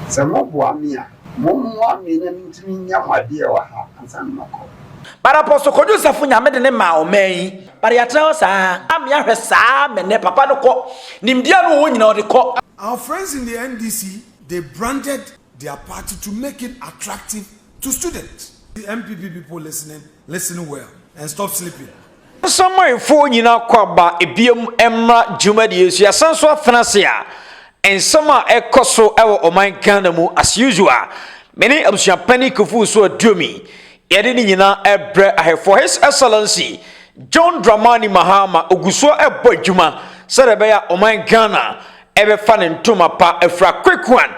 Sɛ moboa me a, mommoa me na mentumi nya mo adeɛ wɔ ha ansa na makɔ. But Apostle Kojo Safo Nyame de ne maa ɔman yi. But yɛatena hɔ saa a me ahwɛ saa me nnɛ papa no kɔ. Nimdeɛ no ɔwɔ nyinaa ɔde kɔ. Our friends in the NDC they branded their party to make it attractive to students. The NPP people listening? Listen well and stop sleeping. Asamoahefo nyina akwaaba ebiam mmra dwumadie yi so. Yɛasan so atena ase a nsɛm a ɛkɔ so wɔ ɔman Ghana mu as usual. Mene abusua panyin Kufuor so Aduomi. Yɛde ne nyina ɛbrɛ ahɛfoɔ His Excellency John Dramani Mahama ogu so ɛbɔ adwuma sɛdeɛ ɛbɛyɛ a ɔman Ghana ɛbɛfa ne ntoma pa afira quick one.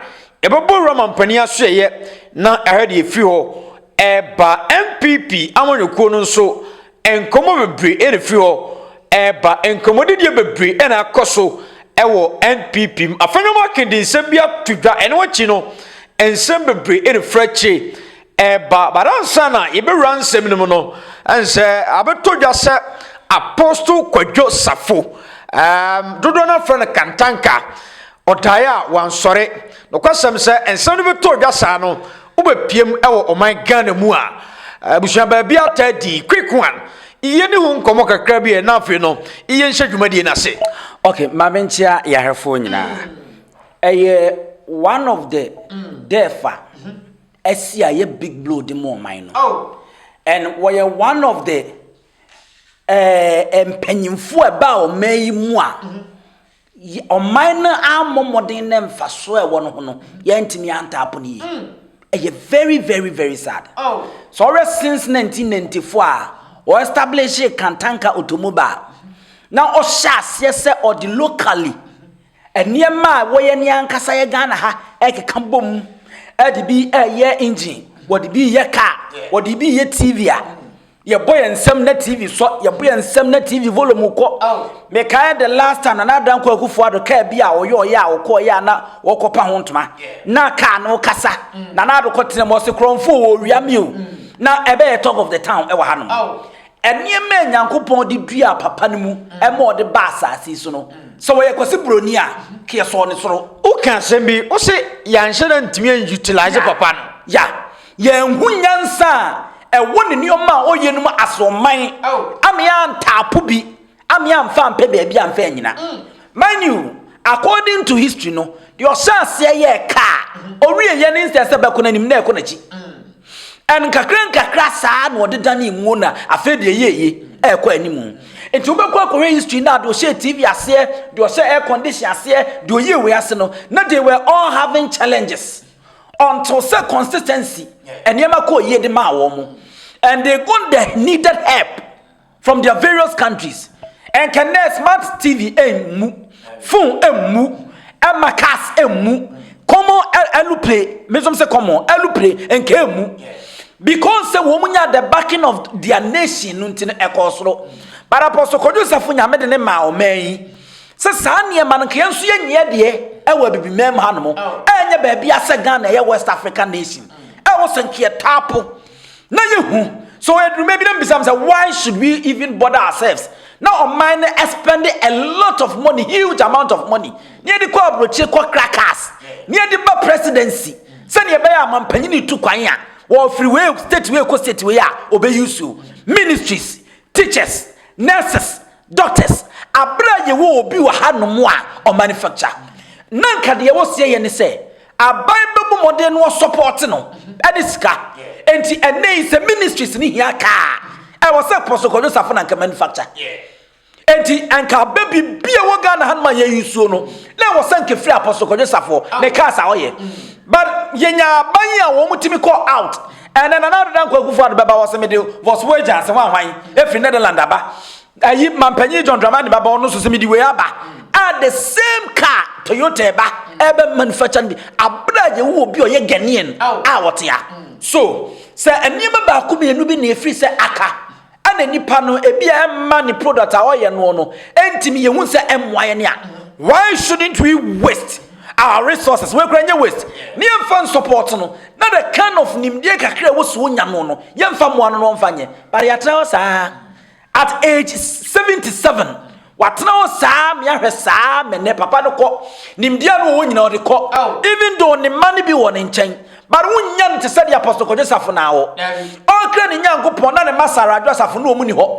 Yɛbɛbɔ wura mampanin asoɛyɛ na ahwɛ deɛ ɛfiri hɔ Ɛreba NPP amanyɔkuo no nso nkɔmmɔ bebree na ɛfiri hɔ reba. Nkɔmmɔdidie bebree na akɔ so wɔ NPP mu. Afei no wɔake de nsɛm bi ato dwa. Ɛno akyi no, nsɛm bebree na ɛfiri akyire reba. But ansa na yɛbɛwura nsɛm no mu no, ɛnsɛ abɛtɔ dwa sɛ Apostle Kwadwo Safo, um, dodoɔ no afrɛ no Kantanka, ɔdaeɛ a wansɔre. Nokwasɛm sɛ nsɛm no bɛtɔ dwa saa no, Wobɛpiam wɔ ɔman Ghana mu a, abusua baabi ataa di quick one, yɛ ne ho nkɔmmɔ kakra bi ɛ na afei no yɛ nhyɛ dwumadie no ase. Ok, ma me nkyea yarefoɔ nyinaa. Ɛyɛ one of the death a asi a yɛ big blow de ma ɔman no. And wɔyɛ one of the eh, mpanyinfoɔ a ɛbaa ɔman yi mu a. Yɛ ɔman no ammɔ mmɔden na mfasoɔ a ɛwɔ no ho no yɛantumi antaapo no yie ɛyɛ very very very sad oh. sɛ ɔwɛ since 1994 a ɔestablish kantanka otomoba na ɔhyɛ aseɛ sɛ ɔde locally nneɛma a wɔyɛ ne ankasa yɛ ghana ha ɛkeka bom ɛde bi ɛyɛ engine wɔde bi yɛ car wɔde bi yɛ tv a yɛbɔ yɛn nsɛm na tv sɔ yɛbɔ yɛn nsɛm na tv volume kɔ mekae the last time na n'adan kɔ akufo ado kaa bi a ɔyɛ ɔyɛ a ɔkɔ ɔyɛ a na wɔkɔpa ho ntoma na kaa no kasa mm. na n'ado kɔ tena mu ɔse korɔmfo wɔ owia mi o mm. na ɛbɛyɛ talk of the town ɛwɔ ha nom nneɛma a nyankopɔn de dua papa no mu mm. ɛma ɔde ba asase so no sɛ wɔyɛ kɔse buroni a keyɛ sɔɔ ne soro woka asɛm bi wo se yɛanhyɛ no ntumi anutilize papa no ya Yɛanhu nyansa a ɛwɔ ne nneɛma a ɔyɛ no mu asorɔmman ama antaapo bi, ama amfa ampɛ baabi amfa anyina. Mind you, according to history no, deɛ ɔhyɛ aseɛ yɛɛ kaa, ɔwieɛ no nsɛ sɛ bɛkɔ n'anim na ɛkɔ n'akyi. And nkakra nkakra saa na ɔde danee muo na afei deɛ ɛyɛ eye, ɛrekɔ anim. Nti wobɛkɔ akɔhwɛ history no a deɛ ɔhyɛ TV aseɛ, deɛ ɔhyɛ air condition aseɛ, deɛ ɔyɛ wei ase no, na they were all having challenges. until sɛ consistency nneɛma kɔɔ yie de maa wɔn mo and they got the needed help from their various countries ɛnkɛ nnɛ smart tv ɛmmu phone ɛmmu ɛma cars ɛmmu common ɛlupre mesom sɛ common ɛlupre ɛnkɛ ɛmmu because sɛ wɔn nya the backing of their nation no nti no ɛkɔɔ soro but apɔso kɔdwo sɛfo nyame de ne maa ɔman yi Sɛ saa nneɛma no nka yɛn nso yɛn nyɛ deɛ ɛwɔ abibimɛm ha nom ɛnyɛ baabi asɛ Ghana ɛyɛ West Africa nation ɛwɔ sɛ nka yɛ taapo na yɛ hu so yɛ duruma bi na mbisam sɛ why should we even bother ourselves na ɔman no spend a lot of money huge amount of money na yɛde kɔ aburokyire kɔ crackers na yɛde ba presidency sɛnea ɛbɛyɛ amampanyini tu kwan a wɔfiri wei state wei kɔ state wei a ɔbɛyi so ministries teachers nurses Doctors, aberɛ a yɛwɔ obi wɔ ha nom a ɔmanufacture, na nka deɛ wɔseɛ yɛ ne sɛ, aban bɛbɔ mmɔden no ɔsɔpɔɔte no ɛne sika. Enti ɛnnɛ yi sɛ ministries no hia kaa, ɛwɔ sɛ Apostle Kwadwo Sarfo na nka manufacture. Enti nka abɛ biribi a ɛwɔ Ghana ha nom a yɛ usuo no, na ɛwɔ sɛ nka ɛfiri Apostle Kwadwo Sarfo ne cars a ɔyɛ. But yɛnya aban yi a wɔn tumi kɔ out. Ɛnɛ Nana Ado Dankwa Akufo-Addo bɛba hɔ sɛ mede Vos wei gya sɛ hwanhwan ɛfiri Netherland aba. Ayi Mampanyin John Dramani bɛba hɔ no so sɛ mede wei aba. A the same car Toyota ɛba ɛbɛ manufacture no bi aberɛ a yɛwɔ obi a ɔyɛ Ghanaian a ɔte ha. So sɛ nneɛma baako mmienu bi na ɛfiri sɛ aka. Ɛna nipa no ebia ɛmma ne product a ɔyɛ no no ɛntumi yɛ hu sɛ ɛmmoa yɛn a why shouldn't we waste our resources wei kura nyɛ waste ne yɛmfa nsupɔɔto no na the kind of nimdeɛ kakra ɛwɔ so nya no no yɛmfa mmoa no no ɔmfa nyɛ but yɛatena hɔ saa at age 77 Watena hɔ saa me ahwɛ saa me nɛ papa no kɔ nimdeɛ no wɔ hɔ nyina ɔde kɔ even though ne mma no bi wɔ ne nkyɛn but wonnya no te sɛ de apostle kɔdwe safo na wɔ ɔkra ne nyankopɔn na ne ma sara adwo asafo no ɔmu ni hɔ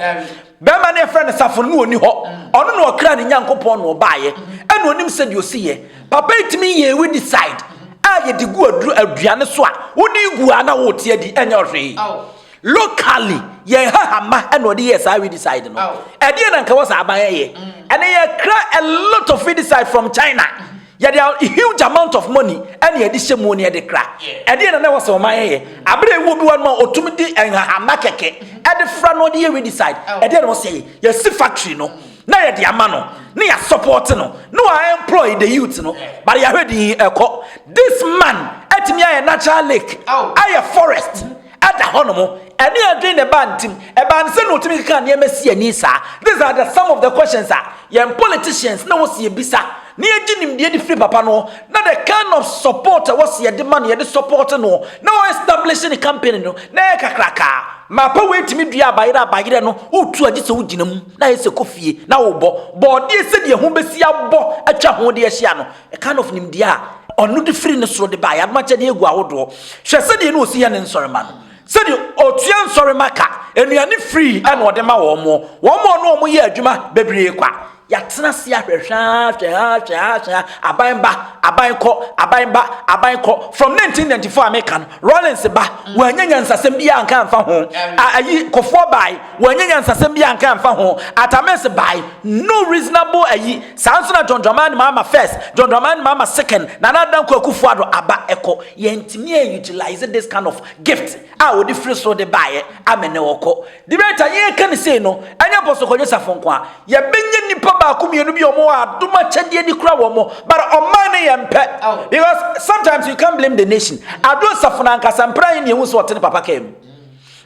bɛrima ne ɛfrɛ ne safo no ɔni hɔ ɔno na ɔkra ne nyankopɔn na ɔbaayɛ ɛna ɔnim sɛ deɛ ɔsi yɛ papa ɛtumi yɛ we decide a yɛde gu aduane so a wode gu a na wote adi ɛnyɛ ɔhwee locally yɛn ha hama ɛna ɔde yɛ saa weedicide no ɛdeɛ na nka wɔ saa aban ɛyɛ ɛne yɛkra a lot of weedicide from china yɛde a huge amount of money ɛne yɛde hyɛ mu ne yɛde kra ɛdeɛ na na wɔ sɛ ɔman ɛyɛ abere ewu bi wɔ no a ɔtumi de nhahama kɛkɛ ɛde fra na ɔde yɛ weedicide ɛdeɛ na wɔ sɛ yɛsi factory no na yɛde ama no ne yɛ support no na wɔn employ the youth no but yɛahwɛ din ɛkɔ this man ɛtumi ayɛ natural lake ayɛ forest. da hɔnom. Ɛne adwene na ɛbaa ne tim. Ɛbaa ne sɛ na ɔtumi keka nneɛma si ani saa. These are the some of the questions a yɛn politicians na wɔsi yɛbisa na yɛgye nimdeɛ de firi papa no na the kind of support a wɔsi yɛde ma no yɛde support no na wɔn establish ne campaign no na ɛyɛ kakrakaa mapa wei tumi dua abayerɛ abayerɛ no wotu agye sɛ wogyina mu na ayɛ sɛ kɔ fie na wobɔ bɔɔdeɛ sɛdeɛ ho bɛsi abɔ atwa ho de ahyia no The kind of nimdeɛ a ɔno de firi ne soro de ba yɛadom akyɛdeɛ agu ahodoɔ. Hwɛ sɛdeɛ ne ɔsi yɛ ne nsɔrema no. Sɛdeɛ ɔtua nsɔrema ka, nnuane free ɛna ɔde ma wɔn mo. Wɔn mo ne wɔn yɛ adwuma bebree kwa. Yɛatena ase ahwɛ hwɛ ha hwɛ ha hwɛ ha hwɛ ha. Aban ba, aban kɔ, aban ba, aban kɔ. From 1994 a meka no, Rawlings ba, wɔanya nyansasɛm biara anka amfa ho. A, ayi, Kofoɔ bae, Wanya nyansasɛm bi anka amfa ho. Artames bae, no reasonable ayi, saa nso na John Dramani Mahama first, John Dramani Mahama second, Nana Addo Dankwa Akufo Addo aba ɛkɔ. Yɛntumi an utilize this kind of gift a wɔde firi soro de baeɛ amene wɔkɔ. Debate a yɛreka no sei no, ɛnyɛ Apostle Kwadwo Safo nko ara. Yɛbɛnya nnipa baako mmienu bi a wɔwɔ adom akyɛdeɛ de kura wɔn, but ɔman no yɛmpɛ. Because sometimes you can't blame the nation. Addo Safo no ankasa, mprɛ ahe na yɛhu sɛ ɔte ne papa kaa mu?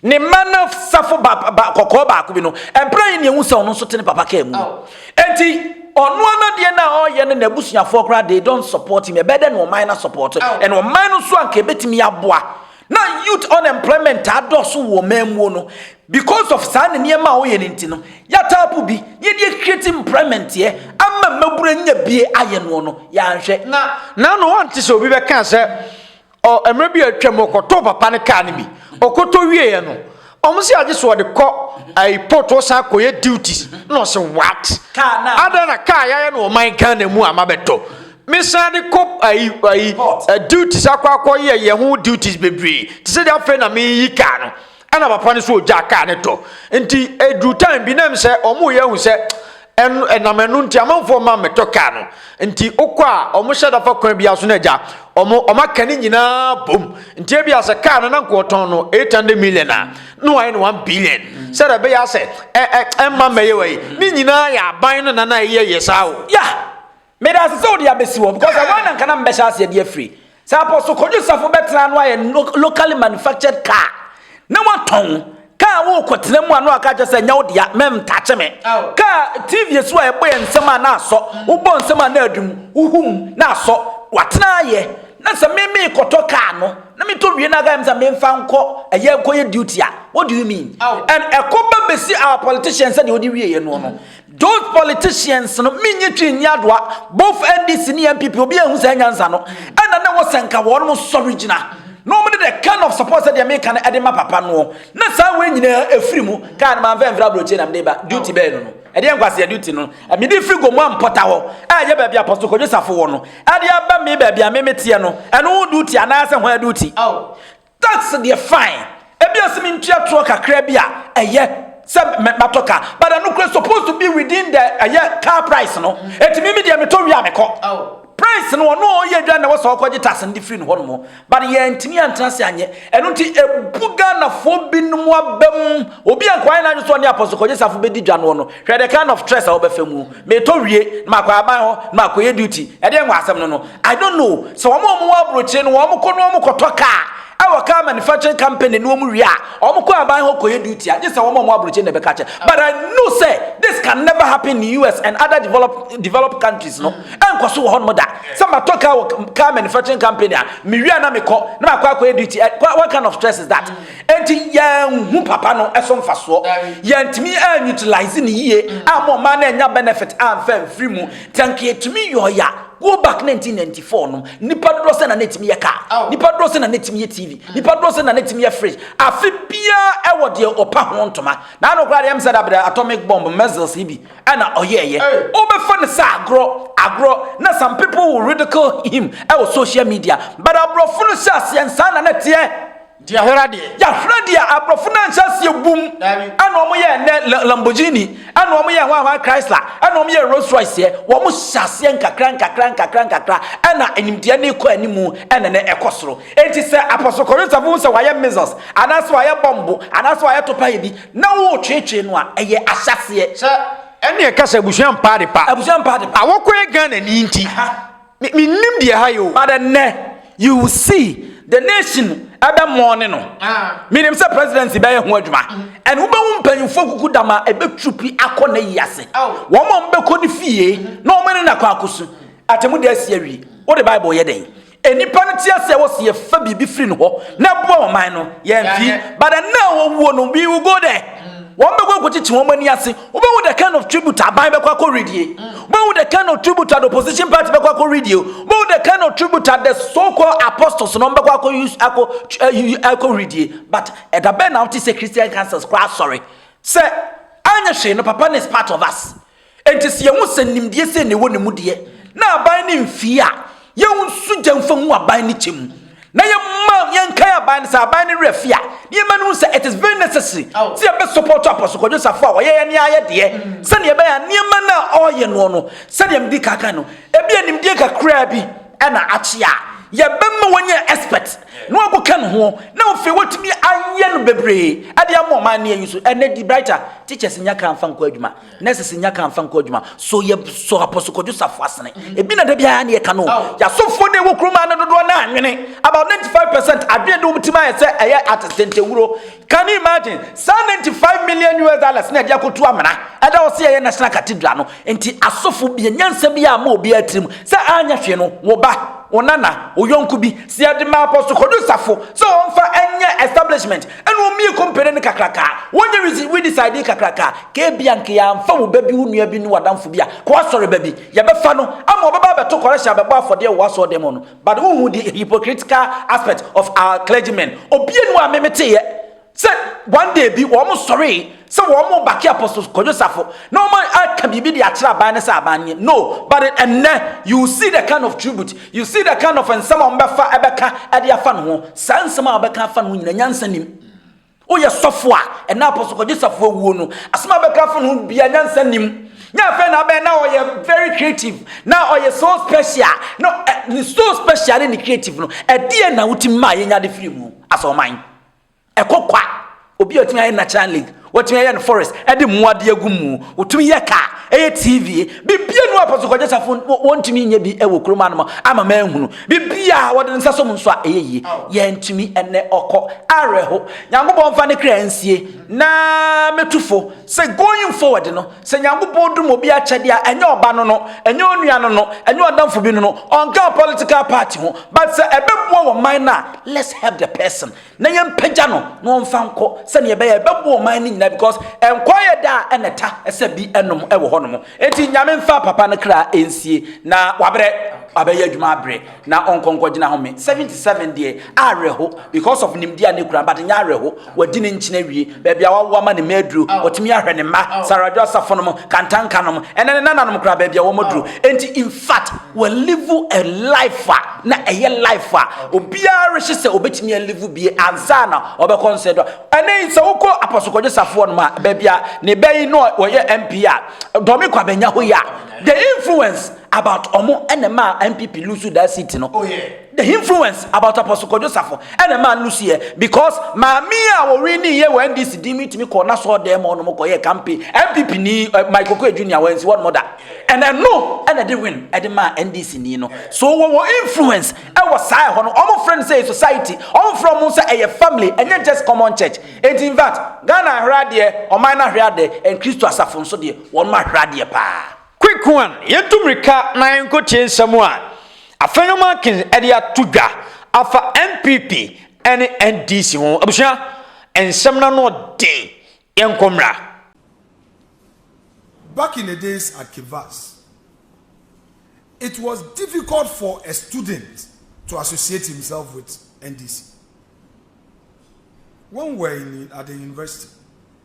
Ne mma no safo ba, ba, kɔkɔɔ baako bi no, ɛmpere yi ne ehu sɛ ɔno nso te ne papa kaa mu no. Enti, ɔno anadeɛ no a ɔreyɛ no n'abusuafoɔ koraa, they don't support him. Ɛbɛyɛ dɛ na ɔman no asɔpɔɔto. Ɛna ɔman no nso anka ɛbɛtumi aboa. Na youth unemployment adɔɔso wɔ ɔman muo no. Because of saa ne nneɛma a ɔyɛ no nti no, yɛatapo bi, na yɛde acreate employment ɛ, ama mmabunu anya bie ayɛ noɔ no, yɛanhwɛ. Na, na, na ɔnte sɛ obi bɛkaa sɛ, Ɔ mmerɛ bi a atwam ɔkɔtɔɔ papa no kaa no bi. Ɔkɔtɔ wieeɛ no, wɔn se agye sɛ ɔde kɔ ayi port ɔsan kɔyɛ duties. Na ɔse what? Adɛn na kaa yɛayɛ no ɔman Ghana mu a mabɛtɔ? Mesan de kɔ ayi ayi duties akɔ akɔyɛ yɛ ho duties bebree te sɛ deɛ afei na meyi kaa no. ɛna papa no so ogya kaa ne tɔ nti eduru time bi nam sɛ wɔn yɛ hu sɛ ɛno ɛnam ɛno nti amanfoɔ mma mmɛtɔ kaa no nti okɔ a wɔn hyɛ dafa kwan bi aso na agya wɔn wɔn aka ne nyinaa bom nti ebi asɛ kaa no na nka wɔtɔn no eight hundred million a na wɔayɛ no one billion sɛ dɛ bɛyɛ asɛ ɛ ɛ ɛmma mmɛyɛ wɔ yi ne nyinaa yɛ aban no nana yɛ yɛ saa o ya Meda ase sɛ wode abɛsi hɔ because ɛhɔ ara na nka na mebɛhyɛ aseɛ de afiri. Sɛ Apostle Kojo Safo bɛtena ano ayɛ locally manufactured car na watɔn car a wokɔtena mu a na waka kyerɛ sɛ nyɛ wo dea, mɛntakye me. Car TV so a ɛbɔ yɛ nsɛm a na asɔ, wobɔ nsɛm a na adi mu, wohu mu na asɔ. Watena ayɛ na sɛ me mekɔtɔ car no na metɔ wie na aka kyerɛ me sɛ memfa nkɔ ɛyɛ nkɔyɛ duty a, what do you mean? And ɛkɔba bɛsi our politician sɛdeɛ ɔde wieɛ noɔ no. Those politicians no menye twi nni adoa both NDC ne NPP obi anhu saa nyansa no ɛna na ɛwɔ sɛ nka wɔn mo sɔre gyina na wɔn de the kind of support sɛ deɛ meka no ɛde ma papa noɔ na saa wei nyinaa ɛfiri mu kaa no manfa mfiri aburokyire na mede ba duty bɛɛ no no ɛdeɛ nkwaseɛ duty no mede firi gomu ampɔta hɔ ɛyɛ baabi apɔso kɔdwe safo wɔ no ɛde aba me baabi a me meteɛ no ɛno ho duty anaasɛ ho duty Tax deɛ fine, ebia sɛ me ntua toɔ kakra bi a ɛyɛ sɛ mɛ matɔ car but ɛno kura supposed to be within the ɛyɛ car price no eti mimi deɛ metɔ wie a mekɔ price no ɔno a ɔyɛ adwa na wɔsɛ ɔkɔgye tax no de firi no hɔ nom but yɛntumi antena ase anyɛ ɛno nti ebu Ghanafoɔ binom abam obi a nkɔayɛ n'adwe so ɔne apɔso kɔgye safo bɛdi dwa noɔ no Hwɛ the kind of stress a wobɛfa mu. Metɔ wie, na makɔ aban hɔ, na makɔyɛ duty. Ɛdeɛn wɔ asɛm no no? I don't know. Sɛ wɔn a wɔwɔ aburokyire no, wɔn kɔ na wɔn kɔtɔ car ɛwɔ car manufacturing company no wɔn wie a, wɔn kɔ aban hɔ kɔyɛ duty a, gye sɛ wɔn a wɔwɔ aburokyire no na ɛbɛka kyɛ. But I know sɛ this can never happen in US and other develop, developed countries no. Ɛnkɔ so wɔ hɔnom da. Sɛ matɔ car wɔ car manufacturing company a, mewie a na mekɔ, na makɔ akɔyɛ duty. What kind of stress is that? Enti yɛanhu papa no so mfasoɔ. Yɛantumi a utilise no yie amma ɔman no annya benefit amfa amfiri mu. Te anka yɛtumi yɔɔ ya go back 1994 no, nipa dodoɔ sɛ na na ɛtumi yɛ car? Nipa dodoɔ sɛ na na ɛtumi yɛ TV? Nipa dodoɔ sɛ na na ɛtumi yɛ fridge? Afe biara ɛwɔ deɛ ɔpa ho ntoma. Na ano koraa deɛ ɛm sɛ da bere atomic bomb missiles yi bi ɛna ɔyɛɛyɛ. Wobɛfa no sɛ agorɔ, agorɔ, na some people will ridicule him ɛwɔ social media. But aborɔfo no hyɛ aseɛ nsaa na na ɛteɛ. Diahera deɛ. Diahera deɛ aborɔfo no anhyɛ aseɛ bum ɛna wɔn yɛ ɛnɛ Lamborghini ɛna wɔn yɛ hwan hwan Chrysler ɛna wɔn yɛ Rolls Royce yɛ wɔn hyɛ aseɛ nkakra nkakra nkakra nkakra ɛna animdeɛ ne kɔ anim ɛna ne ɛkɔ soro eti sɛ Apostle Korinsa fo sɛ wayɛ measles anaasɛ wayɛ bɔmbo anaasɛ wayɛ topa yɛ bi na wɔretwetwe no a ɛyɛ ahyɛseɛ sɛ ɛne ɛka sɛ abusua mpa adepa abusua mpa adepa awɔkɔ yɛ Ghana ni nti. Me mennim deɛ ha yɛ o. But ɛnnɛ you will see the nation ɛbɛ mɔɔne no. Menim sɛ presidency bɛyɛ ho adwuma. And wobɛhu mpanyinfoɔ kuku dam a ɛbɛ tupi akɔ na yi ase. Wɔn a wɔbɛkɔ ne fie na wɔn ne no akɔ akɔsu. Atɛmudi asi awie. Wode bible yɛ dɛn? Nnipa no te aseɛ wɔ se yɛfa biribi firi no hɔ na ɛboa ɔman no. Yɛamfi. But ɛnnɛ a wɔwuo no we will go there. Wɔn bɛkɔ akɔkyekye wɔn ani ase. Wobɛhu the kind of tribute aban bɛkɔ akɔ redie. Wobɛhu the kind of tribute the opposition party bɛkɔ akɔ redie. Wobɛhu the kind of tribute the so called apostles no bɛkɔ akɔ use akɔ eh, akɔ redie. But ɛda bɛn na wote sɛ Christian councils koraa asɔre sɛ anyɛ hwee no papa no is part of us. Enti sɛ yɛhu sɛ nimdeɛ sɛ na ɛwɔ ne mu deɛ na aban no mfii a Yɛnsu gya mfa ngu aban no kyɛ mu na yɛma yɛnkae aban no sɛ aban no werɛ fi a ne yɛma no hu sɛ it is very necessary sɛ yɛbɛsupɔto Apostle Kwadwo Safo a wɔyɛ yɛne ayɛ deɛ sɛdeɛ ɛbɛyɛ a nneɛma no a ɔreyɛ noɔ no sɛdeɛ mede kaka no ebi animdeɛ kakraa bi ɛna akye a yɛbɛma wɔnyɛ expert na wɔakɔka ne ho na wɔfei wɔtumi ayɛ no bebree ɛde ama ɔman no yɛyi so ɛnɛ di brighter teachers nya kra mfa nkɔ adwuma Nurses nya ka nfa nkɔ adwuma. So yɛ sɔ Apostle Kwadwo Safo asene. Ebi na da biara ne yɛka no. Yasofo ne wɔ kuruma no dodoɔ no anwene. About 95% adwene de wɔn tim ayɛ sɛ ɛyɛ atesentewuro. Can you imagine? Saa 95 million US dollars na ɛde akɔtu amena. Ɛda hɔ sɛ yɛyɛ National Cathedral no. Nti asofo bia nyansa bi a ama obiara tirim sɛ anyɛ hwee no, wo ba, wo nana, wo yɔnko bi, sɛ yɛde ma Apostle Kwadwo Safo sɛ ɔmfa nyɛ establishment, Ɛna wɔn mmienu compare no kakraka. Wɔnyɛ resi redecide kakraka. Kebia nka yɛamfa wo ba bi, wo nua bi ne w'adamfo bi a, kɔ w'asɔre ba bi. Yɛbɛfa no ama ɔbɛba abɛto correction abɛbɔ afɔdeɛ wɔ w'asɔɔdɛm hɔ no. But wonhu the hypocritical aspect of our clergymen. Obia nni hɔ a me meteeɛ sɛ one day bi wɔn sɔree Sɛ wɔn bake apostle kwadwo safo na wɔn aka biribi de akyerɛ aban ne sɛ aban nie no but ɛnnɛ you see the kind of tribute you see the kind of nsɛm a wɔn bɛfa ɛbɛka ɛde afa ne ho saa nsɛm a wɔbɛka afa ne ho nyina nyansa nim woyɛ sɔfo a ɛnna apostle kwadwo safo awuo no asɛm a bɛka afa ne ho bia nyansa nim nyɛ afei na abɛn na ɔyɛ very creative na ɔyɛ so special no ne so special ne ne creative no ɛdeɛ na wotumi maa yɛnya de firi mu asɛ ɔman Ɛkɔ kwa. Obi a otumi ayɛ natural lake, watumi ayɛ no forest, ɛde mmoa bi agu mu, otumi yɛ car, ɛyɛ TV, biribi anu apɔ so kɔgye safo wɔntumi nyɛ bi ɛwɔ kurom anom ama manhunu. Biribi a wɔde nsa som nso a ɛyɛ yie, yɛntumi ɛnɛ ɔkɔ awerɛho. Nyankopɔn mfa ne kra nsie na metu fo sɛ going forward no, sɛ Nyankopɔn dum obi akyɛdeɛ a, ɛnyɛ ɔba no no, ɛnyɛ onua no no, ɛnyɛ ɔdamfo bi no no, ɔnka political party ho, but sɛ ɛbɛboa wɔ man no a, let's help the person. na yɛmpagya no na ɔmfa nkɔ sɛnea ɛbɛyɛ ɛbɛboa ɔman no nyinaa because nkwa yɛ da a ɛna ɛta sɛ bi ɛnom ɛwɔ hɔ nom eti nyame nfa papa no kra ɛnsie na wabrɛ abɛyɛ adwuma abrɛ na ɔnkɔnkɔ gyina home 77 deɛ awerɛho because of nimdeɛ a ne kura but nyɛ awerɛho wadi ne nkyena wie baabi a wawo ama ne mma aduru, ɔtumi ahwɛ ne mma, Saradwo asafo nom, Kantanka nom, ɛnɛ ne nananom koraa baabi a wɔaduru. Enti in fact, walive a life a na ɛyɛ life a obiara rehye sɛ obetumi alive bie ansa na ɔbɛkɔ nsɛdo a. Ɛnɛ yi sɛ wokɔ Apostle Kwadwo Safoɔ nom a, baabi a ne ba yi na ɔyɛ MP a, Dɔme Kwabenya hɔ yi a, the influence about ɔmo ɛna ɛmaa NPP lose that seat no. Oh yeah. The hinfluence about Apostle Kojo Safo na ɛmaa no no siiɛ because maame yi a wɔwiniiɛ wɔ NDC din mu tumi kɔɔ n'asɔɔdɛɛ ma ɔnom kɔyɛɛ kampe NPP ni Mike Okoye Junior wɔansi hɔnom da and ɛno na ɛde win ɛde maa NDC ni no so wɔwɔ influence ɛwɔ saa ɛhɔ no wɔn frɛ no sɛ society wɔn frɛ wɔn sɛ ɛyɛ family ɛnyɛ just common church enti in fact Ghana ahwere adeɛ ɔman no ahwere adeɛ and Kristo asafo nso deɛ wɔn ahwere adeɛ paa Quick one, Yɛntu mmirika na yɛnkɔtie nsɛm a afei no Markins de ato dwa afa NPP ne NDC ho. Abusua, nsɛm no ano den, yɛnkɔ mmra. Back in the days at Kivas, it was difficult for a student to associate himself with NDC. When were in at the university?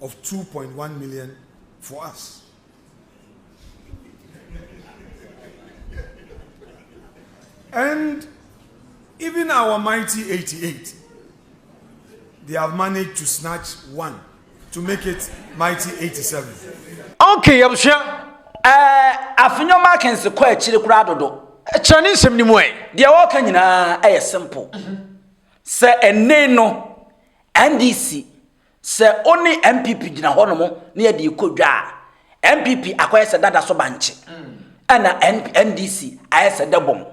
of two point one million for us. And even our mighty 88, they have managed to snatch one to make it mighty 87. Okay, I'm sure. Uh, Afinyo Markins, the quiet chili crowd. Kyerɛ ne nsɛm no mu ɛ. Deɛ wɔka nyinaa ɛyɛ simple. Sɛ ɛnne no NDC Sɛ wo ne NPP gyina hɔ nom ne yɛde rekɔ dwa a, NPP akɔyɛ sɛ dada so bankye, ɛna NDC ayɛ sɛ dɛbɔn.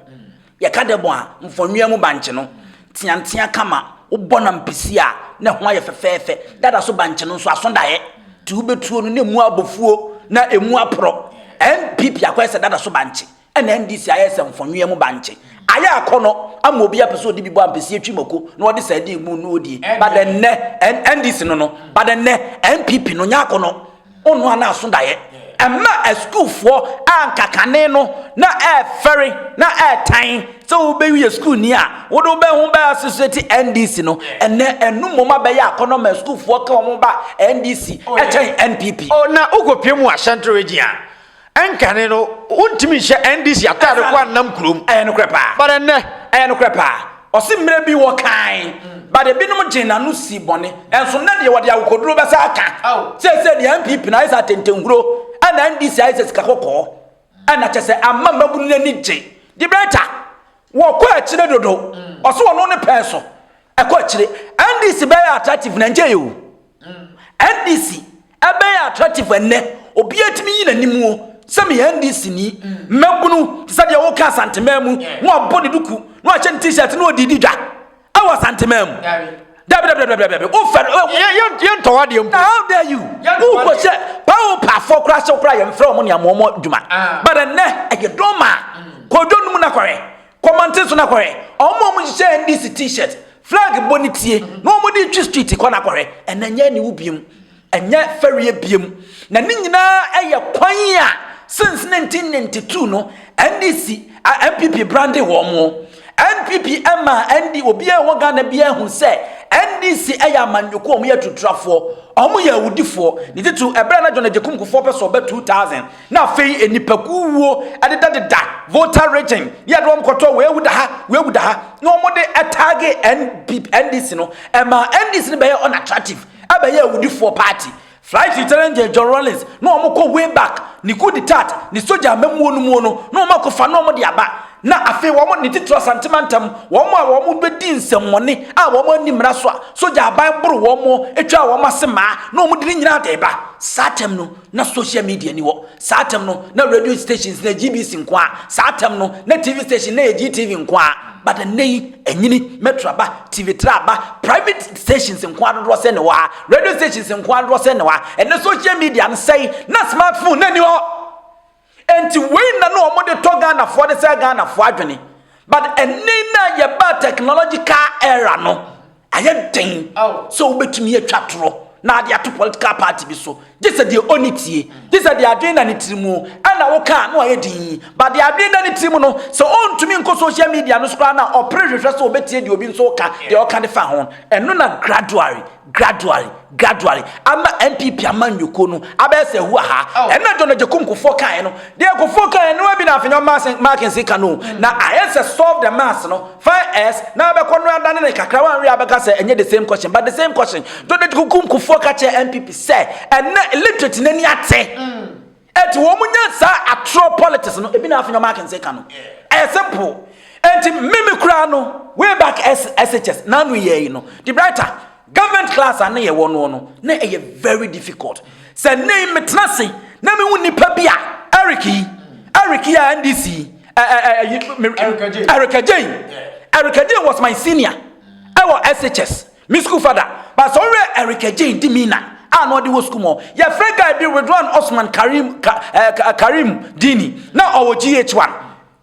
Yɛka dɛbɔn a, mfɔnwia mu bankye no, teantea kama, wobɔ nam pisi a ne ho ayɛ fɛfɛɛfɛ. Dada so bankye no nso, aso daeɛ, nti wobɛtuo no na ɛmu abɔ fuo na ɛmu aporɔ. NPP akɔyɛ sɛ dada so bankye. Ɛna NDC ayɛ sɛ mfɔnwea mu bankye. Ayɛ akɔnɔ ama obi apɛ sɛ ɔde bi bɔ ampesie twi mako na ɔde sardine mu no ɔdie. Ba dɛ nnɛ NDC no no, ba dɛ nnɛ NPP no nyɛ akɔnɔ. Ɔno a na aso daeɛ. Ɛma asukuufoɔ a anka kane no na ɛrefɛre na ɛretan sɛ wobɛwi yɛ sukuuni a wode wo bɛ ho bɛ associate NDC no, ɛnɛ ɛno mmom abɛyɛ akɔnɔ ma asukuufoɔ ka wɔn ba NDC kyɛn NPP. O na wokɔpue mu wɔ Ashanti Region a, Ɛnkane no, wontumi nhyɛ NDC ataade kɔ annam kurom. Ɛyɛ nokorɛ paa. But ɛnnɛ? Ɛyɛ nokorɛ paa. Ɔse mmerɛ bi wɔ kan, but ebinom gyee n'ano sii bɔne. Nso nnɛ deɛ wɔde akokoduro bɛsa aka. Seesei deɛ NPP no ayɛ sɛ atɛntɛnhuro, ɛna NDC ayɛ sɛ sika kɔkɔɔ. Ɛna kyɛ sɛ ama mmabunu no ani gye. Debrɛta, wɔkɔ akyire dodo. Ɔse ɔno ne pɛn so. Ɛkɔ akyire. NDC bɛyɛ attractive na ɛnkyɛe o. NDC. Ɛbɛyɛ attractive ɛnnɛ, obiara tumi yi n'anim o, sɛ meyɛ NDCni, mmabunu, te sɛ deɛ woka Asanteman mu, na wabɔ ne duku, na wahyɛ ne T-shirt, na ɔde di dwa ɛwɔ Asanteman mu. Dabi, dabi, dabi, dabi, dabi, wofɛ no, yɛntɔ w'adeɛ mpo. How dare you? Wokɔ hyɛ paopafoɔ koraa, hyɛ koraa yɛmfrɛ wɔn ne amoɔmɔ dwuma. But ɛnnɛ, ɛyɛ dɔma, kɔdwo no mu na kɔhwɛ. Kɔ manten so na kɔhwɛ. Ɔmo ma ɔmo hyehyɛ NDC t-shirt, flag bɔ ne tie na ɔmo de twi street kɔ na kɔhwɛ. Ɛnɛ ɛnyɛ aniwu biam, ɛnyɛ fɛreɛ biam. Na ne nyinaa ɛyɛ kwan a since 1992 no NDC a NPP brande wɔn. NPP ɛma ND obiara ɛwɔ Ghana biara ahu sɛ NDC ɛyɛ amanyɔkuo, ɔmo yɛ aturutrafoɔ, ɔmo yɛ awudifoɔ. Ne titiriw ɛberɛ a na John Agyekum Kufuor pɛ sɛ ɔbɛ 2000. Na afei nnipakuw wuo adedadeda Volta region ne yɛde wɔn kɔtɔ wei awu da ha wei awu da ha na wɔn de ɛtaage NP NDC no ɛma NDC no bɛyɛ unattractive ɛbɛyɛ awudifoɔ party Flight Lieutenant Gen John Rawlings na wɔn kɔ way back ne coup d'etat ne soja amamuo no muo no na wɔn akɔfa na wɔn de aba na afei wɔn ne titiri Asante mantam wɔn a wɔn bɛdi nsɛmmɔne a wɔn ani mmara so a soja aban boro wɔn etwa wɔn ase maa na wɔn de ne nyinaa de ba saa tɛm no Na social media ni hɔ. Saa tɛm no, na radio stations na GBC nko ara. Saa tɛm no, na TV station na yɛ GTV nko ara. But ɛnnɛ yi, ɛnyini, Metro aba, TV Tra aba, private stations nko ara dodoɔ sɛn na ɛwɔ ha. Radio stations nko ara dodoɔ sɛn na ɛwɔ ha. Ɛnnɛ social media no sɛe, na smartphone na ɛni hɔ. Enti wei na na wɔn de tɔ Ghanafoɔ de sɛ Ghanafoɔ adwene. But ɛnne na yɛbaa technological era no, ayɛ den sɛ wobɛtumi atwa torɔ na ade ato political party bi so. Gye sɛ deɛ ɔni tie, gye sɛ deɛ adwene na ne tiri mu ɛna woka no ayɛ din. But deɛ adwene na ne tiri mu no, sɛ ɔntumi nkɔ social media no so koraa na ɔpere hwehwɛ sɛ ɔbɛtie deɛ obi nso ka, deɛ ɔka de fa ho. Ɛno na gradually Gradually, gradually, ama NPP amanyɔkuo no abɛyɛ sɛ ɛhu aha. Oh. Ɛna John Agyekum Kufuor kaeɛ no, deɛ Kufuor kaeɛ no bi na afenyɔ Mackenzie ka no. Mm. Na ayɛ sɛ solve the mass no, fine as, na abɛkɔ no adane ne kakra, wanwe abɛka sɛ ɛnyɛ the same question, but the same question. John Agyekum Kufuor ka kyerɛ NPP sɛ, ɛnɛ illiterate n'ani ate. Mm. Enti wɔn nya saa atorɔ politics no ebi na afei wɔn akense ka no ɛyɛ simple enti mimi koraa no way back SHS n'ano yɛ yi no the brighter government class a ne yɛ wɔ noɔ no na ɛyɛ very difficult sɛ ne yi metena se na mehu nipa bi a Eric yi Eric yi a NDC yi Eric Ajay Eric Ajay was my senior ɛwɔ SHS Me sukuu fada, Pastor Owura Eric Agyei Dimina, a na ɔde wɔ sukuu mu hɔ. Yɛfrɛ guy bi Ridwan Osman Karim, ka, eh, ka, Karim Dini, na ɔwɔ GH1.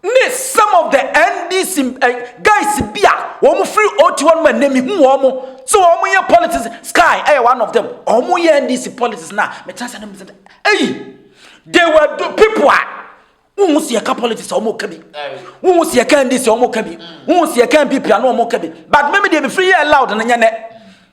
Ne some of the NDC eh, guys bi a wɔn firi OT hɔ nom a nnɛ mehu wɔn sɛ wɔn yɛ politics, Sky ɛyɛ one of them, wɔn yɛ NDC politics na metra sɛ ne mo sɛ, eyi, they were people a, wohu sɛ yɛka politics a wɔka bi wohu sɛ yɛka ndc a wɔka bi wohu sɛ yɛka mpp a na wɔka bi but meme deɛ mefiri yɛ loud no nyɛ nɛ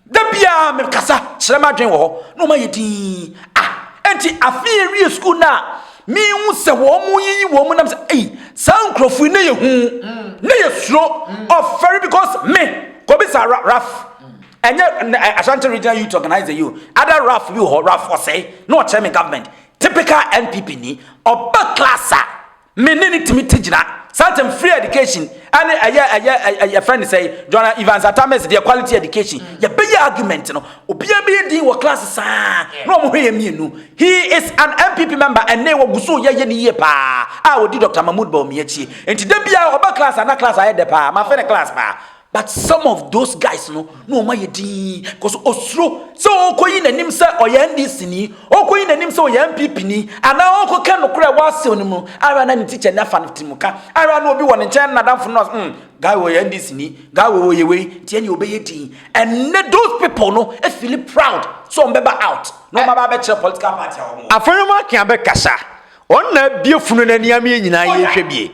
da biaa mekasa kyerɛ m'adwen wɔ hɔ na ɔma yɛ din ah enti afei awie sukuu no a mehu sɛ wɔn mu yiyi wɔn mu nam sɛ ei saa nkurɔfoɔ na yɛ hu na yɛ suro ɔfɛre because me kɔbi sa raf ɛnyɛ ashanti regional youth organizer yi o ada raf bi wɔ hɔ raf ɔsɛe na ɔkyerɛ me government Typical NPP ni, ɔba class a, me ne no tumi te gyina. Saa ntem free education ɛne ɛyɛ ɛyɛ ɛ yɛfrɛ no sɛi, Joana Evans Atta Mills deɛ quality education. Yɛbɛyɛ argument no, obiara bɛyɛ din wɔ class saa na wɔn hwɛ yɛn mmienu. He is an NPP member ɛnne wɔgu so yɛ yɛ no yie paa a ɔdi Doctor Mahmood Bawumia akyi. Nti da biara ɔba class a na class ayɛ dɛ paa, mafe no class paa. But some of those guys no na wɔn ayɛ dinn cause osuro sɛ ɔrekɔyi n'anim sɛ ɔyɛ NDC ni, ɔrekɔyi n'anim sɛ ɔyɛ NPP ni anaa ɔrekɔka nokorɛ a ɛwɔ asew no mu ahwɛ a na ne teacher ni afa no tirimuka ahwɛ a na obi wɔ ne nkyɛn n'adamfo no na ɔsɛ mm guy wei ɔyɛ NDC ni, guy wei ɔyɛ wei nti ɛnneɛ ɔbɛyɛ dinn. Ɛnnɛ those people no fili proud sɛ wɔbɛba out na wɔaba abɛkyerɛ political party a wɔwɔ. Afei wɔn aka abɛkasa Ɔno na abue funu no ani ama yɛn nyinaa yɛrehwɛ bie.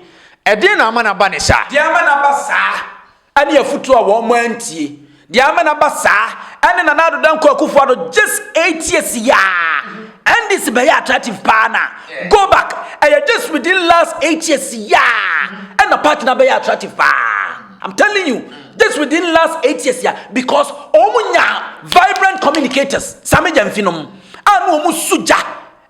Ɛdeɛn na ama no aba no saa? Deɛ ama no aba saa ne afutuo a wɔn antie. Deɛ ama no aba saa ne Nana Addo Dankwa Akufo Addo just eight years yaa. NDC bɛyɛ attractive paa na go back. Ɛyɛ just within last eight years yaa ɛna party no abɛyɛ attractive paa. I'm telling you just within last eight years yaa because wɔn nya vibrant communicators Sami Gyamfi nom a na wɔn su gya.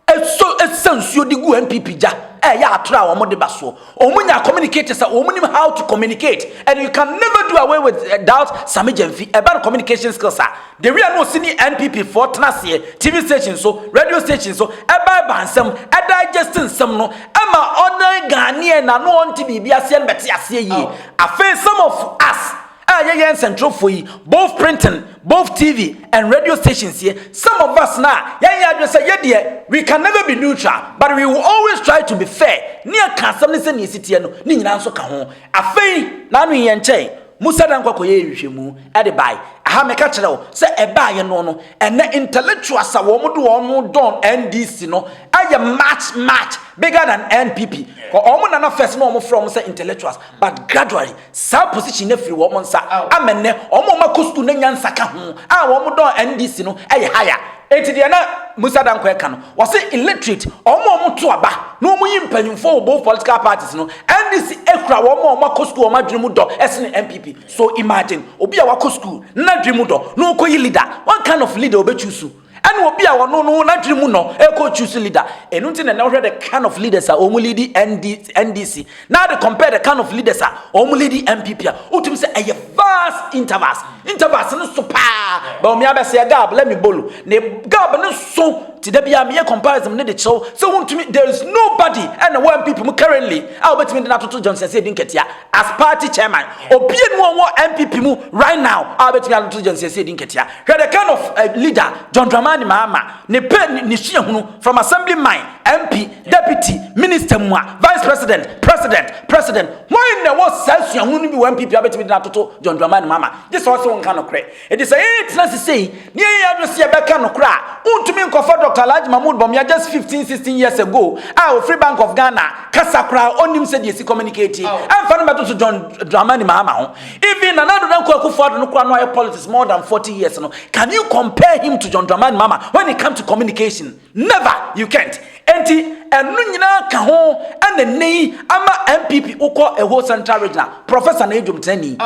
Ɛsɔ ɛsa nsuo de gu NPP gya a ɛyɛ atorɔ a wɔn de ba soɔ. Wɔn nya communicate sɛ wɔn nim how to communicate and you can never do away with doubt Sammy Gyamfi ɛba no communication skills a the way a na ɔsi ne NPP foɔ tena aseɛ TV station so radio station so ɛba ɛba nsɛm ɛdigest nsɛm no ɛma ɔdan Ghanaian na na ɔnte biribi aseɛ no bɛte aseɛ yie afei some of us A yɛyɛ nsɛntwerɛfoɔ yi, both printing, both TV and radio stations yi, some of us na yɛayɛ adwene sɛ yɛ deɛ we can never be neutral but we will always try to be fair, ne yɛka asɛm ne sɛdeɛ ɛsi teɛ no ne nyinaa nso ka ho. Afei na ano yi yɛnkyɛe, Musa Dankwa kɔyɛɛ nhwehwɛmu de bae ha, meka kyerɛ wo sɛ ɛbaeɛ no no ɛnnɛ intellectuals a wɔn de wɔn dɔn NDC no ayɛ much much bigger than NPP, wɔn nana first na wɔn frɛ wɔn sɛ intellectuals but gradually saa position no afiri wɔn nsa ama nnɛ wɔn a wɔn akɔ sukuu na nyansa ka ho a wɔn dɔ NDC no yɛ haya. Enti deɛ na Musa Danko ɛka no, ɔse illiterate, wɔn a wɔto aba na wɔn yi mpanyinfoɔ wɔ both political parties no, NDC kura wɔn a wɔn akɔ sukuu a wɔn adwene mu dɔ sene NPP. So imagine obi a wakɔ sukuu na n'adwene mu dɔ na ɔkɔyi leader, what kind of leader ɔbɛ choose? Ɛna obi a ɔno no n'adwene mu no ɛkɔ choose leader. Ɛno nti na ɛnɛ wohwɛ the kind of leaders a wɔn lead ND, NDC. Now they compare the kind of leaders a wɔn lead NPP a wotumi sɛ ɛyɛ vast intervals. Intervals no so paa. Bawumia bɛsɛ gab let me bolo. Ne gab no so ti da bia meyɛ comparison ne de kyerɛw sɛ wontumi there is nobody ɛna wɔ NPP mu currently a wobɛtumi de no atoto Johnson sɛ ɛdi nkatia. As party chairman, obianu a ɔwɔ NPP mu right now a obetumi ato gya nsiasie adi nketea. Hwɛ the kind of uh, leader John Dramani Mahama ne pɛ ne suahunu from assemblyman, MP, deputy, minister mu a vice president, president, president. Wɔn na ɛwɔ saa suahunu no bi wɔ NPP a obetumi de no atoto John Dramani Mahama. Gye sɛ ɔse wo nka nokorɛ. Enti sɛ yɛretena ase sei na yɛyɛ yɛn adwene sɛ yɛbɛka nokorɛ a, wontumi nkɔfa Dɔkta Alhaji Mahmood Bawumia just fifteen, sixteen years ago a ɔfiri Bank of Ghana kasa koraa a ɔnnim sɛdeɛ yɛsi communicate ɛmfa no mmɛtoto John Dramani Mahama ho. Even Nana Addo Dankwa Akufo-Addo no koraa no ayɛ politics more than forty years no, can you compare him to John Dramani Mahama when it comes to communication? Never! You can't! Enti ɛno nyinaa ka ho ɛna nnɛ yi ama NPP wokɔ Ɛho Central Regional, Professor na yɛ dwomtenani.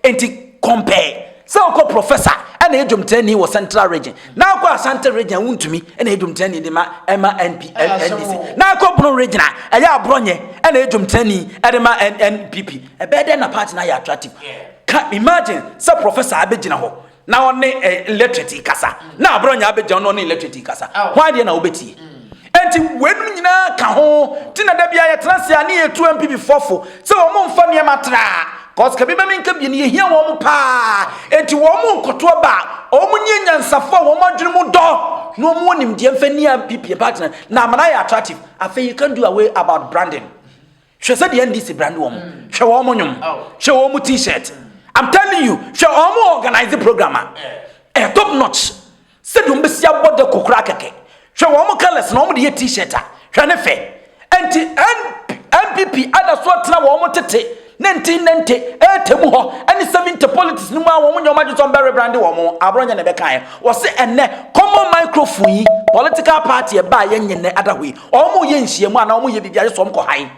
Enti compare sɛ wokɔ professor ɛna yɛ dwomtrani wɔ central region na akɔ asante region a wontumi ɛna yɛ dwomtrani de ma ɛma NP NDC na akɔ bono region a ɛyɛ aborɔnyɛ ɛna yɛ dwomtrani ɛde ma NPP ɛbɛyɛ dɛn na party no ayɛ attractive ka imagine sɛ professor abɛgyina hɔ na ɔne electorate rekasa, na abere ɔnya abegya ɔno ɔne electorate rekasa, hwan deɛ na wobɛtie? Enti weinom nyinaa ka ho ti na da biara yɛtena ase a ne yɛtu MPP fɔfo sɛ wɔn mfa nneɛma tra cause ka bi bɛ menka bi no yɛhia wɔn paa enti wɔn nkoto aba a wɔn nyɛ nyansafo a wɔn adwene mu dɔ na wɔn wɔ nimdeɛ mfa ni MPP mpa tena na amana yɛ attractive afei you can do away about branding hwɛ sɛ deɛ ndc brand wɔn mm. hwɛ wɔn mo nwom oh. hwɛ wɔn mo t-shirt mm. i'm telling you hwɛ wɔn mo organize program a eh. ɛyɛ top notch sɛ deɛ wɔn bɛsi abɔ de kokora kɛkɛ hwɛ wɔn mo colours na wɔn de yɛ t-shirt a hwɛ ne fɛ nti npp ada so atena wɔn mo tete ne nti ne nti ɛɛtɛ mu hɔ ɛne seventy politics no mu a wɔn nyɛ wɔn adwesɔn bɛrɛ brande wɔn aborɔ nyɛ na ɛbɛka yɛ wɔsi ɛnɛ common microphone yi political party ɛbaa yɛ nyɛ nɛ adaho yi Wɔn yɛ nhyiamu anaa wɔn yɛ biribi a yɛ sɔm kɔ hae.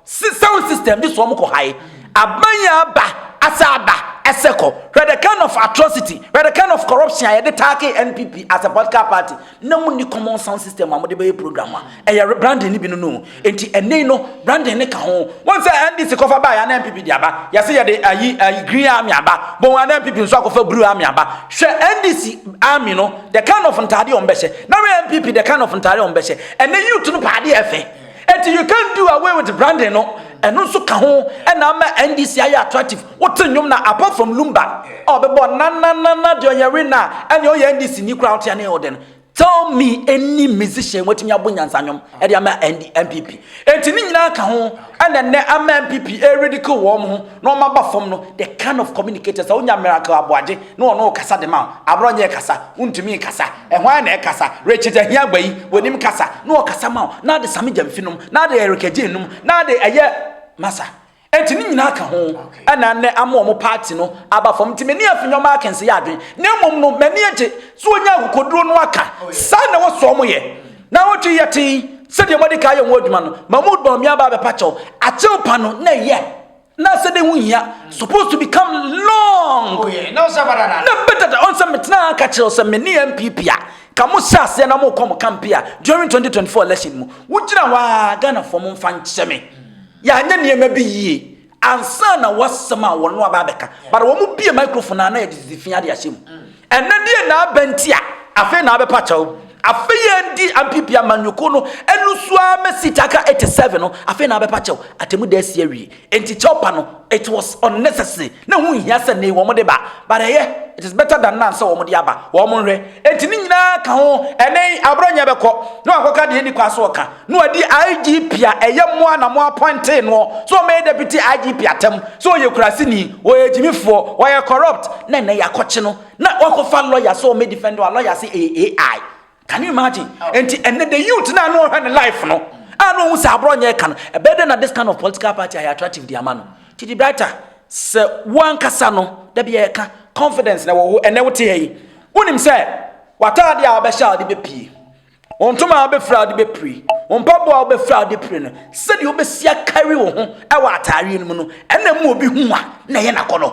Si sound system de sɔm kɔ hae. Aban yɛ aba asɛ aba ɛsɛ kɔ. Hwɛ the kind of atrocity, hwɛ the kind of corruption a yɛde taake NPP as a political party. Na mo ni common sound system a mo de bɛyɛ program a ɛyɛ branding ne bi no no. Nti ɛnɛ yi no. Brandon ne ka ho. Wɔn sɛ NDC kɔfa baa yɛ anan pipi de aba. Yɛse yɛde ayi ayi green army aba. Bɔ wɔn anan pipi nso akɔfa blue army aba. Hwɛ NDC army no the kind of ntaade wɔn bɛhyɛ. Na wɛ NPP the kind of ntaade wɔn bɛhyɛ. Ɛnɛ youth no paa de ɛfɛ. Eti you can do away with Brandon no. Ɛno nso ka ho ɛna ama NDC ayɛ attractive. Wote nnwom na apart from lumba a ɔbɛbɔ na na na na deɛ ɔyɛ we na ɛne ɔyɛ NDC ni kura wote ɛne ɔdɛ no. Tell me any musician watumi abo nyansa nwom ɛde ama ND MPP. Enti ne nyinaa ka ho ɛna nnɛ ama MPP e ridicule wɔn ho na wɔn aba fam no the kind of communicator sɛ wonya miracle aboagye na ɔno kasa de ma wo abrɔ nyɛ kasa wontumi nkasa ɛhɔ ara na ɛkasa Richard Ahiagba yi wɔnim kasa na ɔkasa ma wo na ade same gyamfi nom na ade Erica Jane nom na ade ɛyɛ masa Enti ne nyinaa ka ho na nnɛ ama wɔn paati no aba fam. Nti m'ani afi nneɛma akɛnse yɛ adwene. Na mmom no, m'ani agye sɛ wɔnya akokoduro no aka. Saa na ɛwɔ sɛ wɔyɛ. Na wɔtwe yɛ tee sɛdeɛ wɔadi ka ayɛ wɔn adwuma no. Mahmood bɔ me aba abɛpa kyɛw. Akyɛw pa no na ɛyɛ. Na sɛ dɛ ho hia. Supposed to become long. Oh, yeah. Na ɔsɛ badada. Na badada. Ɔnsɛ metena aka kyerɛw sɛ mene MPP a. Ka mo hyɛ aseɛ na mo kɔ mo kampe a during 2024 election mu. Wogyina hɔ a Ghanafoɔ mo mfa nkyɛ me. Yɛanyɛ nneɛma bi yie ansa na w'asɛm a wɔn no aba abɛka. But wɔn bue microphone a na yɛde tete fi ade ahyɛ mu. Ɛnɛ deɛ na aba nti a afei na abɛpa kyɛw. Afei yɛn di MPP amanyɔkuo no ɛnusu ara mɛ seat aka 87 no afei na abɛpa kyɛw. Atemu da asi awie. Enti kyɛw pa no it was unnecessary. Na ɛho nhia sɛ nnɛ yi wɔn de ba. But ɛyɛ it is better than none sɛ wɔn de aba. Wɔn nhwɛ. Enti ne nyinaa ka ho ɛnɛ yi aborɔnyɛ bɛkɔ na wakɔka deɛ ɛnni kwan sɛ ɔka. na ɔdi IGP a ɛyɛ mo a na mo apɔntee noɔ sɛ ɔmmɛyɛ deputy IGP atɛm sɛ ɔyɛ kuraseni, ɔyɛ agyimifoɔ, ɔyɛ corrupt na ɛnnɛ yɛakɔkye no na wakɔfa lawyer sɛ ɔmmɛ defend a lawyer se ɛyɛ AI. Can you imagine? Enti ɛnnɛ the youth no a na ɔhwɛ ne life no a na ɔhu sɛ aborɔ nyɛ ɛka no, ɛbɛyɛ dɛn na this kind of political party ayɛ attractive de ama no? Titi Brighter, sɛ wo ankasa no, da bi yɛka confidence na ɛwɔ wo, ɛnnɛ wote ha yi, wonim sɛ w'ataadeɛ a wobɛhyɛ a wode bɛpie, Wo ntoma a wobɛfira wode bɛpire, wo mpaboa a wobɛfira wode pire no, sɛdeɛ wobɛsi akari wo ho wɔ ataareɛ no mu no, ɛna mu obi hu a na ɛyɛ n'akɔnɔ.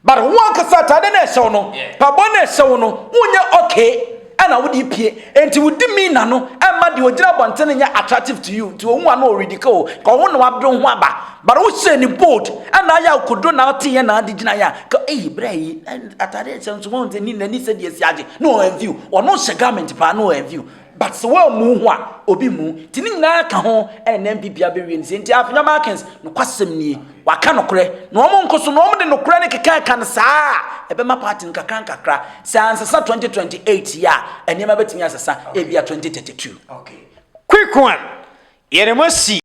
But wo ankasa ataade na ɛhyɛ wo no, mpaboa na ɛhyɛ wo no, wonyɛ okay ɛna wode pie. Enti wodi mi na no ɛma deɛ ogyina abɔnten no nyɛ attractive to you. Nti ohun a na ɔredika o, ka ɔho na wabere wo ho aba. But wohyɛ ni bold ɛna ayɛ a okodo na ɔteeɛ na ade gyina yɛ a, ka eyi berɛ yi. atade nhyɛ nso wɔn dze ni n'ani sɛ deɛ si agye na wɔn anviw wɔn hyɛ garment paa na wɔn anviw but sɛ wɔn amu ho a obi mu ti ne nyinaa ka ho ɛna na npp abɛwie ne sɛ nti afenya markins nokwasɛm nie waka nokorɛ na wɔn nko so na wɔn de nokorɛ ne keka ɛka no saa a ɛbɛma party no kakra nkakra sɛ ansesa 2028 yɛ a nneɛma bɛtumi asesa ebia 2032. Okay. Quick one. Yɛde mo asi.